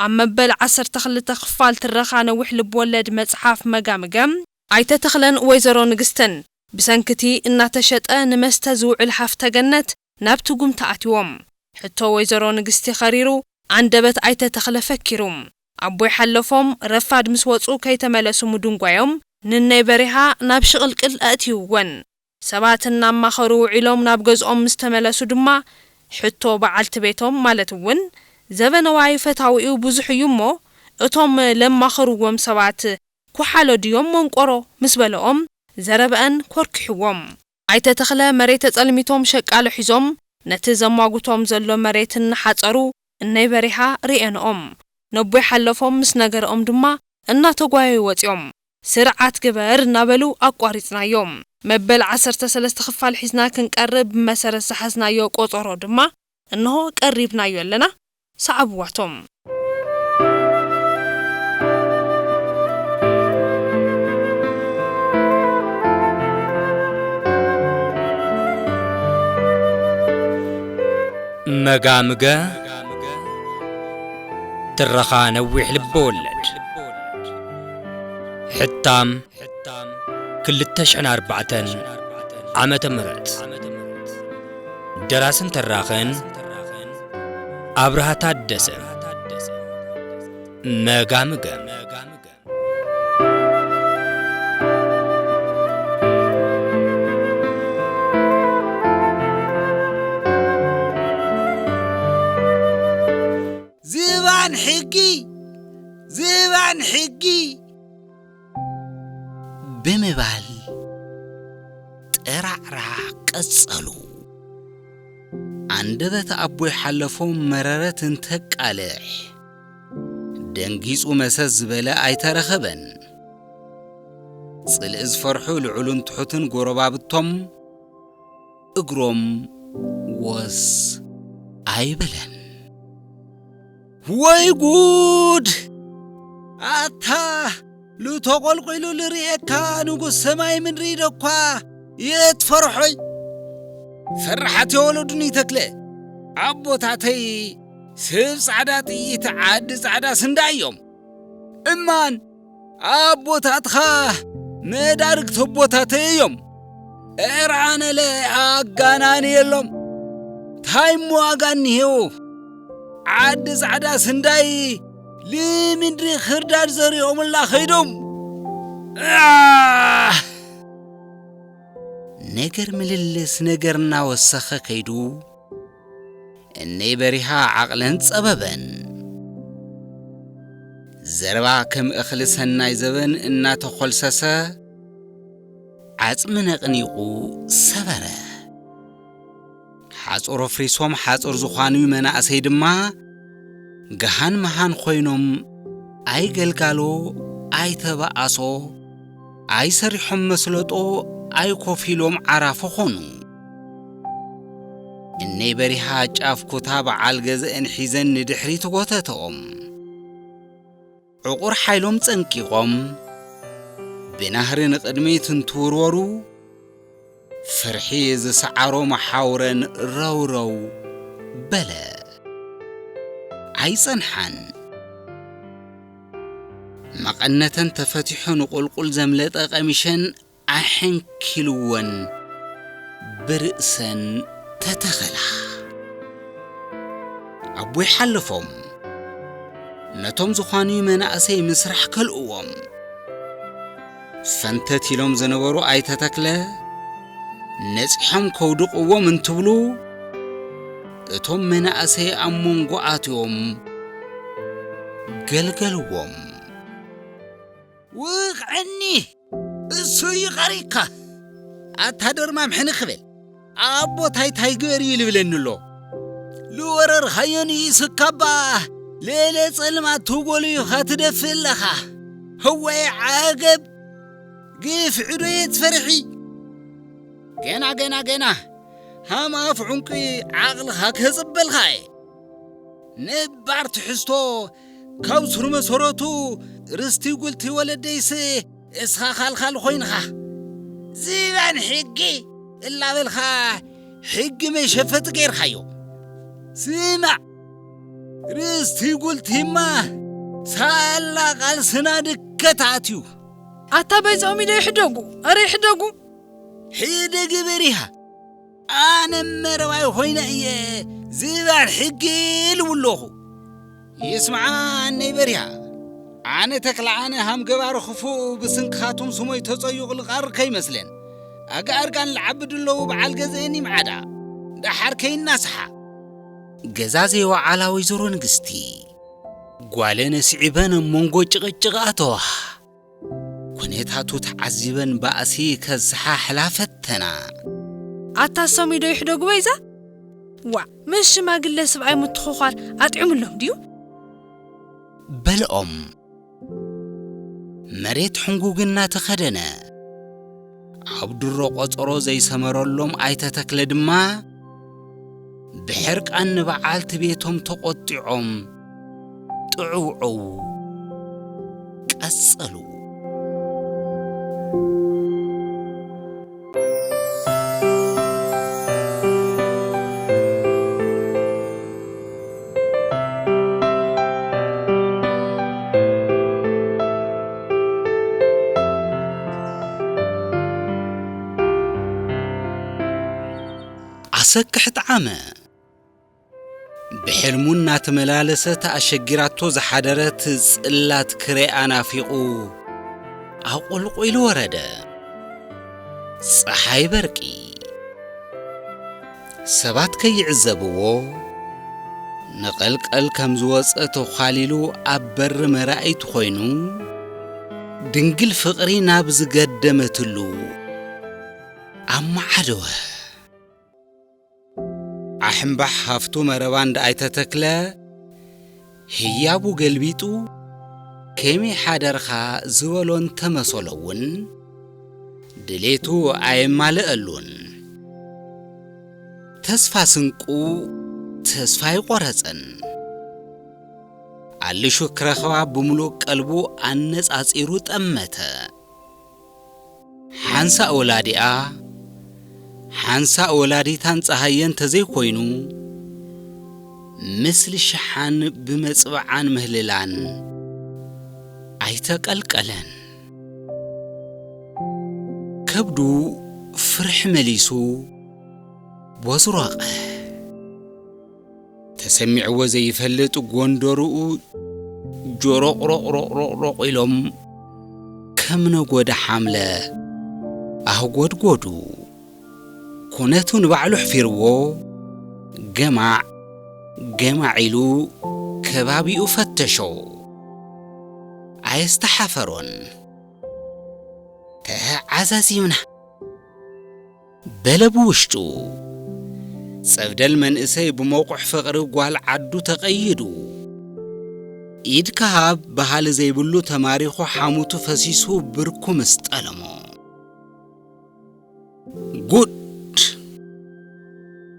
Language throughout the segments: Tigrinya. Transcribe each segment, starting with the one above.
ኣብ መበል ዓሰርተ ክልተ ክፋል ትረኻ ነዊሕ ልብወለድ መጽሓፍ መጋምገ፣ ኣይተ ተኽለን ወይዘሮ ንግስትን ብሰንኪ'ቲ እናተሸጠ ንመስተ ዝውዕል ሃፍተ ገነት ናብ ትጉምቲ ኣትዎም። ሕቶ ወይዘሮ ንግስቲ ከሪሩ፣ ኣንደበት ኣይተ ተኽለ ፈኪሩ። ኣቦይ ሓለፎም፣ ረፋድ ምስ ወጹ ከይተመለሱ ምድንጓዮም ንነይ በሪሃ ናብ ሽቕልቅል ኣእትይወን። ሰባት እናማኸሩ ውዒሎም ናብ ገዝኦም ምስ ተመለሱ ድማ፣ ሕቶ በዓልቲ ቤቶም ማለት እውን ዘበነዋይ ፈታዊኡ ብዙሕ እዩ እሞ፣ እቶም ለማኸርዎም ሰባት ኩሓሎ ድዮም መንቆሮ ምስ በለኦም፣ ዘረበኣን ኮርኪሕዎም። ኣይተ ተኽለ መሬት ተፀልሚቶም ሸቃሎ ሒዞም ነቲ ዘሟጉቶም ዘሎ መሬት እናሓፀሩ እነይ በሪሃ ሪኤንኦም ነቦይ ሓለፎም ምስ ነገረኦም ድማ እናተጓየዩ ወፂኦም ስርዓት ግበር እናበሉ ኣቋሪፅናዮ መበል ዓሰርተ ሰለስተ ክፋል ሒዝና ክንቀርብ ብመሰረት ዝሓዝናዮ ቆፆሮ ድማ እንሆ ቀሪብናዮ ኣለና ሰዓብዋቶም። መጋምገ ትረኻ ነዊሕ ልበወለድ ሕታም ሕታም ክልተ ሽሕን ኣርባዕተን ዓመተ ምህረት ደራስን ተራኽን ኣብርሃ ታደሰ መጋምገም ዝባን ሕጊ ዝባን ሕጊ ብምባል ጠራዕራ ቀጸሉ። ኣንደበት ኣቦይ ሓለፎም መረረት እንተቃልሕ፣ ደንጊጹ መሰስ ዝበለ ኣይተረኸበን። ጽልኢ ዝፈርሑ ልዑልን ትሑትን ጎረባብቶም እግሮም ወስ ኣይበለን። ወይ ጉድ! ኣታ ሉ ተቆልቂሉ ልርእየካ ንጉስ ሰማይ ምድሪ ደኳ የትፈርሖይ ፈራሓት የወለዱኒ ተክለ ኣቦታተይ ስብ ጻዕዳ ጥይት ዓዲ ጻዕዳ ስንዳ እዮም እማን ኣቦታትኻ መዳርግቲ ኣቦታተይ እዮም እዕር ኣነለ ኣጋናኒ የሎም ታይ እሞ ዋጋ እኒሄዎ ዓዲ ጻዕዳ ስንዳይ ልምድሪ ክርዳድ ዘሪኦምላ ኸይዶም ኣህ! ነገር ምልልስ ነገር እናወሰኸ ከይዱ እነይ በሪሃ ዓቕልን ጸበበን። ዘረባ ከም እኽሊ ሰናይ ዘበን እናተኾልሰሰ ዓጽሚ ነቕኒቑ ሰበረ። ሓጹር ኣፍሪሶም ሓጹር ዝኾኑ መናእሰይ ድማ ገሃን መሃን ኮይኖም ኣይገልጋሎ ኣይተባኣሶ ኣይሰሪሖም መስለጦ ኣይኮፍ ኢሎም ዓራፎ ኾኑ። እነይ በሪሃ ጫፍ ኩታ በዓል ገዘእን ሒዘን ንድሕሪት ጐተተኦም። ዕቑር ሓይሎም ጸንቂቖም ብናህሪ ንቕድሚት እንትውርወሩ ፍርሒ ዝሰዓሮም ሓውረን ረውረው በለ። ኣይጸንሓን። መቐነተን ተፈቲሑ ንቑልቁል ዘምለጠ ቀሚሸን ኣሐንኪልወን ብርእሰን ተተኸላ። ኣቦይ ሓለፎም ነቶም ዝዃንዩ መናእሰይ ምስራሕ ከልእዎም። ፈንተት ኢሎም ዝነበሩ ኣይተ ተክለ ነጺሖም ከውድቕዎም እንትብሉ እቶም መናእሰይ ኣብ መንጎ ኣትዮም ገልገልዎም። ውቕዕኒ! እሱ እዩ ቐሪቕካ ኣታ ደርማም ሕንኽ ክበል ኣቦ ታይ ታይ ግበር እዩ ልብለኒ ኣሎ ልወረርኻዮ ንኢሱካባ ሌለ ጸልማት ትጎሉ ኢኻ ትደፍእ ኣለኻ ህወይ ዓገብ ግፍዒ ዶ እየ ትፈርሒ ገና ገና ገና ሃም ኣፍ ዑንቂ ዓቕልኻ ከጽበልካ እየ ነባር ትሕዝቶ ካብ ሱር መሰረቱ ርስቲ ጉልቲ ወለደይስ እስኻ ኻልኻል ኾይንኻ ዝባን ሕጊ እላበልኻ ሕጊ መሸፈጢ ገይርካዮ ስማዕ ርስቲ ጉልቲማ ሳላ ቃልስና ድከት ኣትዩ ኣታ በይዞም ኢለ ይሕደጉ ኣረ ይሕደጉ ሕደጊ በሪሃ ኣነ መረባይ ኾይነ እየ ዝባል ሕጊ ኢልው ኣለኹ ይስምዓነይ በሪሃ ኣነ ተክለዓነ ሃም ገባሪ ክፉእ ብስንክኻቱም ስሞይ ተጸዩቕ ልቓር ከይመስለን ኣጋኣርጋን ልዓቢ ድለዉ በዓል ገዘኤን ይምዓዳ ደሓር ከይናስሓ ገዛ ዘይወዓላ ወይዘሮ ንግስቲ ጓለን ስዒበን ኣብ መንጎ ጭቕጭቕ ኣተዋ ኩነታቱ ተዓዚበን ባእሲ ከዘሓሕላ ፈተና። ኣታ ሰሙይ ዶ ይሕደጉ በይዛ? ዋእ ምስ ሽማግለ ስብኣይ ምትኹዃር ኣጥዕምሎም ድዩ? በልኦም መሬት ሕንጉግ እናተኸደነ። ኣብ ድሮ ቖጸሮ ዘይሰመረሎም ኣይተ ተክለ ድማ ብሕርቃን ንበዓልቲ ቤቶም ተቖጢዖም ጥዕውዕው ቀጸሉ። ኣሰክሕ ጣዓመ ብሕልሙ እናተመላለሰት ኣሸጊራቶ ዝሓደረት ጽላት ክርኣ ናፊቑ ኣቑልቑሉ ወረደ። ፀሓይ በርቂ ሰባት ከይዕዘብዎ ንቐልቐል ከም ዝወጸ ተዃሊሉ ኣብ በሪ መራእይቱ ኮይኑ ድንግል ፍቕሪ ናብ ዝገደመትሉ ኣመዓደወ። ዓሕምባሕ ሃፍቱ መረባ እንዳ ኣይተተክለ ህያቡ ገልቢጡ ከመይ ሓደርካ ዝበሎ እንተመሰሎ'ውን ድሌቱ ኣየማልኣሉን። ተስፋ ስንቁ ተስፋ ኣይቖረጸን። ኣልሹ ክረኽባ ብምሉእ ቀልቡ ኣነጻጺሩ ጠመተ። ሓንሳእ ወላዲኣ ሓንሳእ ወላዲታን ጸሃየ እንተዘይኮይኑ ምስሊ ሽሓን ብመጽብዓን ምህልላን ኣይተቀልቀለን። ከብዱ ፍርሒ መሊሱ ቦዝሮቐ። ተሰሚዕዎ ዘይፈልጥ ጎንደርኡ ጆሮቕሮቕሮቕሮቕ ኢሎም ከም ነጎዳ ሓምለ ኣህጎድጎዱ። ኩነቱ ንባዕሉ ኣሕፊርዎ ገማዕ ገማዕ ኢሉ ከባቢኡ ፈተሾ። ኣየስተሓፈሮን። ተዓዛዚምና! በለ ብውሽጡ። ጸብደል መንእሰይ ብሞቑሕ ፍቕሪ ጓል ዓዱ ተቐይዱ። ኢድካ ሃብ በሃሊ ዘይብሉ ተማሪኹ ሓሙቱ ፈሲሱ ብርኩ ምስ ጠለሞ። ጉድ!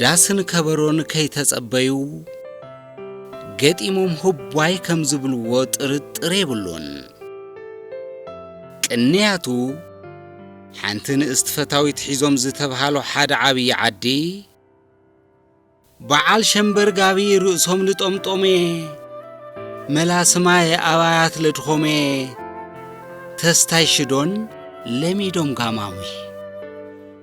ዳስን ከበሮን ከይተጸበዩ ገጢሞም ህቧይ ከም ዝብልዎ ጥርጥር የብሉን። ቅንያቱ ሓንቲ ንእስቲ ፈታዊት ሒዞም ዝተብሃሉ ሓደ ዓብዪ ዓዲ በዓል ሸምበር ጋቢ ርእሶም ልጠምጦመ መላስማይ ኣባያት ለድኾመ ተስታይ ሽዶን ለሚዶም ጋማሙ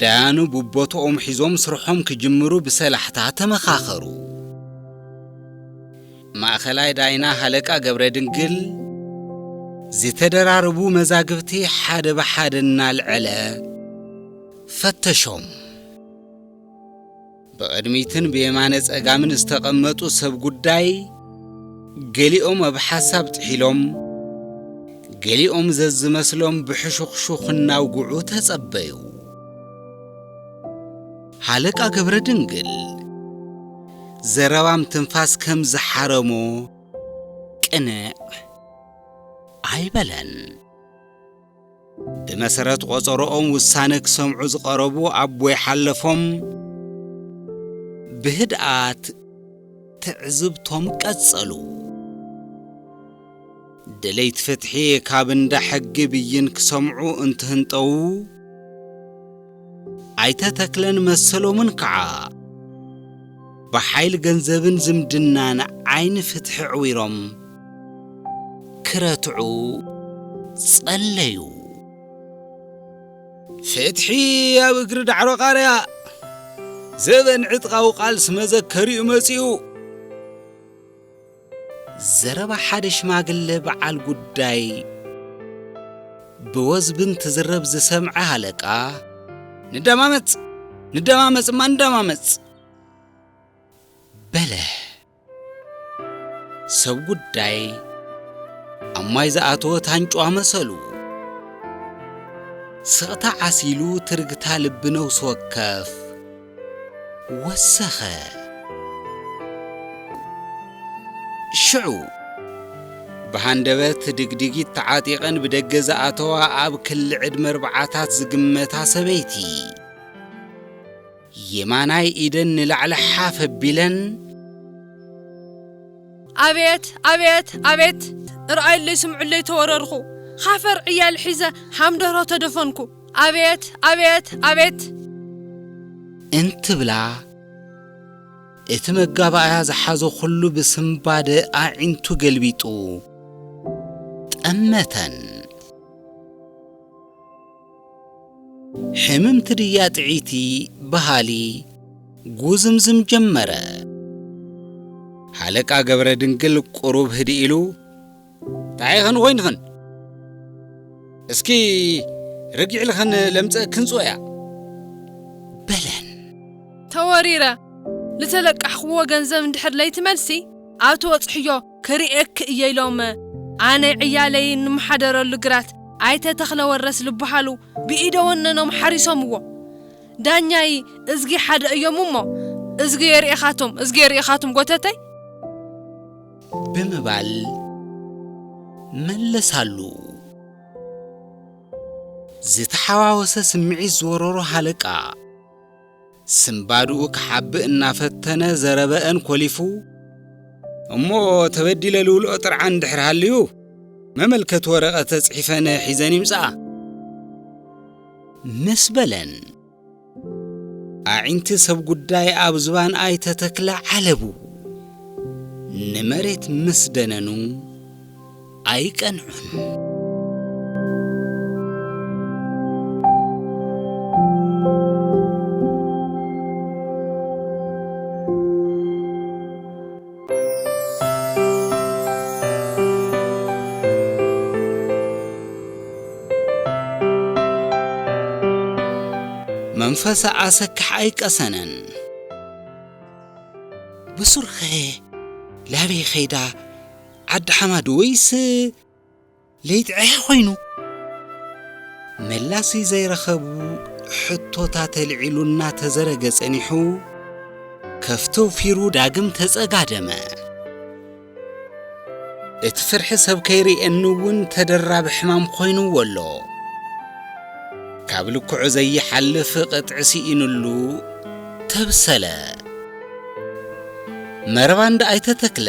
ዳያኑ ብቦትኦም ሒዞም ስርሖም ክጅምሩ ብሰላሕታ ተመኻኸሩ። ማእኸላይ ዳይና ሃለቃ ገብረድንግል ዝተደራረቡ መዛግብቲ ሓደ ብሓደ እናልዐለ ፈተሾም። ብቕድሚትን ብየማነ ጸጋምን ዝተቐመጡ ሰብ ጉዳይ ገሊኦም ኣብ ሓሳብ ጥሒሎም፣ ገሊኦም ዘዝመስሎም ብሕሹኽሹኽ እናውግዑ ተጸበዩ። ሃለቃ ገብረድንግል ዘረባም ትንፋስ ከም ዝሓረሞ ቅንዕ ኣይበለን። ብመሰረት ቆጸሮኦም ውሳነ ክሰምዑ ዝቐረቡ ኣቦይ ሓለፎም ብህድኣት ትዕዝብቶም ቀጸሉ። ደለይቲ ፍትሒ ካብ እንዳ ሕጊ ብይን ክሰምዑ እንትህንጠዉ፣ ኣይተ ተክለን መሰሎምን ከዓ ብሓይል ገንዘብን ዝምድናን ዓይኒ ፍትሒ ዕዊሮም ክረትዑ ፀለዩ። ፍትሒ ኣብ እግሪ ዳዕሮ ቃርያ ዘበን ዕጥቃዊ ቃልሲ መዘከሪኡ መፂኡ። ዘረባ ሓደ ሽማግለ በዓል ጉዳይ ብወዝቢ እንትዝረብ ዝሰምዐ ሃለቃ፣ ንደማመጽ! ንደማመጽ እማ ንደማመጽ! በለ። ሰብ ጉዳይ ኣብ ማይ ዝኣተወ ታንጭዋ መሰሉ፣ ስቕታ ዓሲሉ ትርግታ ልቢ ነውሲ ወከፍ፣ ወሰኸ። ሽዑ ብሃንደበት ድግዲጊት ተዓጢቐን ብደገ ዝኣተዋ ኣብ ክሊ ዕድመ ኣርብዓታት ዝግመታ ሰበይቲ፣ የማናይ ኢደን ንላዕሊ ሓፍ ኣቢለን፣ ኣቤት! ኣቤት! ኣቤት! ርኣዩለይ ስምዑለይ ተወረርኹ። ኻፈር ዕያል ሒዘ ሃምደርሆ ተደፈንኩ። ኣቤት ኣቤት ኣቤት! እንትብላ፣ እቲ መጋባእያ ዝሓዞ ኹሉ ብስንባደ ኣዒንቱ ገልቢጡ ጠመተን። ሕምምቲ ድያ ጥዕይቲ በሃሊ ጉዝምዝም ጀመረ። ሃለቃ ገብረድንግል ቁሩብ ህድእ ኢሉ፣ ታይ ኽን ወይን ኽን እስኪ ርግዕ ኢል ኽን ለምፀእ ክንፅወያ በለን። ተወሪረ ልተለቃሕኽዎ ገንዘብ እንድሕር ለይትመልሲ ኣብ ትበፅሕዮ ክሪኤኪ እየ ኢሎም ኣነ ዕያለይ እንመሓደረሉ ግራት ኣይተ ተኽለ ወረስ ልበሃሉ ብኢደ ወነኖም ሓሪሶምዎ ዳኛይ እዝጊ ሓደ እዮም እሞ እዝጊ የሪኤኻቶም እዝጊ የሪኤኻቶም ጎተተይ ብምባል መለሳሉ። ዝተሓዋወሰ ስምዒት ዝወረሮ ሃለቃ፣ ስንባድኡ ክሓብእ እናፈተነ ዘረበኣን ኮሊፉ፣ እሞ ተበዲለ ልውልኦ ጥርዓን እንድሕር ሃልዩ፣ መመልከቲ ወረቐተ ጽሒፈነ ሒዘን ይምጽኣ። ምስ በለን። ኣዒንቲ ሰብ ጉዳይ ኣብ ዝባን ኣይተ ተክለ ዓለቡ ንመሬት ምስ ደነኑ ኣይቀንዑን። መንፈሰ ኣሰክሕ ኣይቀሰነን ብሱርኸ ላበይ ኸይዳ ዓዲ ሓማድ ወይስ ለይቲ ዕሕ ኮይኑ መላሲ ዘይረኸቡ ሕቶታት ኣልዒሉ እናተዘረገ ጸኒሑ ከፍቶ ፊሩ ዳግም ተጸጋደመ። እቲ ፍርሒ ሰብ ከይርእየኒ እውን ተደራቢ ሕማም ኮይኑዎ ኣሎ። ካብ ልክዑ ዘይሓልፍ ቅጥዒ ስኢኑሉ ተብሰለ። መረባ እንዳ ኣይተ ተክለ!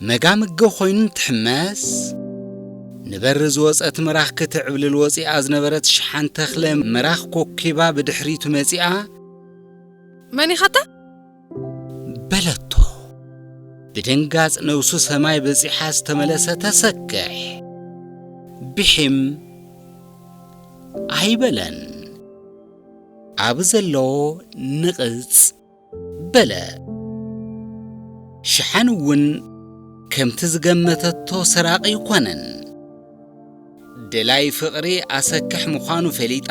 መጋምገ ኮይኑ እንትሕመስ፣ ንበሪ ዝወጸት ምራኽ ክትዕብልል ወጺኣ ዝነበረት ሽሓን ተኽለ ምራኽ ኮኪባ ብድሕሪቱ መጺኣ። መን ኢኻ ኣታ? በለቶ። ብድንጋጽ ነብሱ ሰማይ በጺሓ ዝተመለሰ ተሰክሕ፣ ቢሒም ኣይበለን። ኣብ ዘለዎ ንቕጽ። በለ። ሽሓን እውን ከምቲ ዝገመተቶ ሰራቒ ኣይኮነን። ደላይ ፍቕሪ ኣሰክሕ ምዃኑ ፈሊጣ፣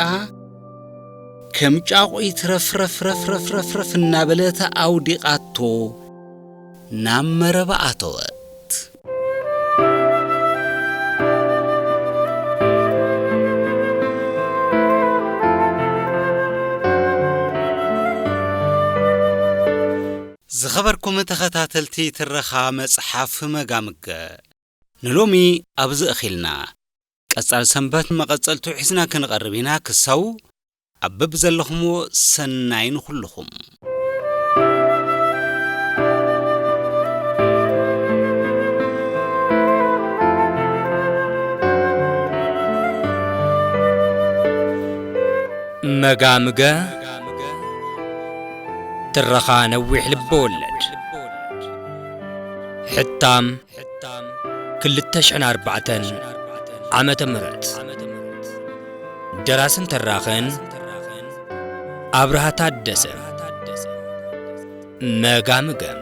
ከም ጫቑት ረፍረፍረፍረፍረፍረፍ እናበለት ኣውዲቓቶ ናብ መረባ ኣተወት። ዝኸበርኩም ተኸታተልቲ ትረኻ መጽሓፍ መጋምገ ንሎሚ ኣብዚ እኺልና ቀጻል ሰንበት መቐጸልቱ ሒዝና ክንቐርብ ኢና ክሳው ኣብ በብዘለኹምዎ ሰናይ ንኹልኹም። መጋምገ ትረኻ ነዊሕ ልበወለድ ሕታም ክልተ ሽሕን ኣርባዕተን ዓመተ ምህረት ደራስን ተራኽን ኣብርሃ ታደሰ መጋምገም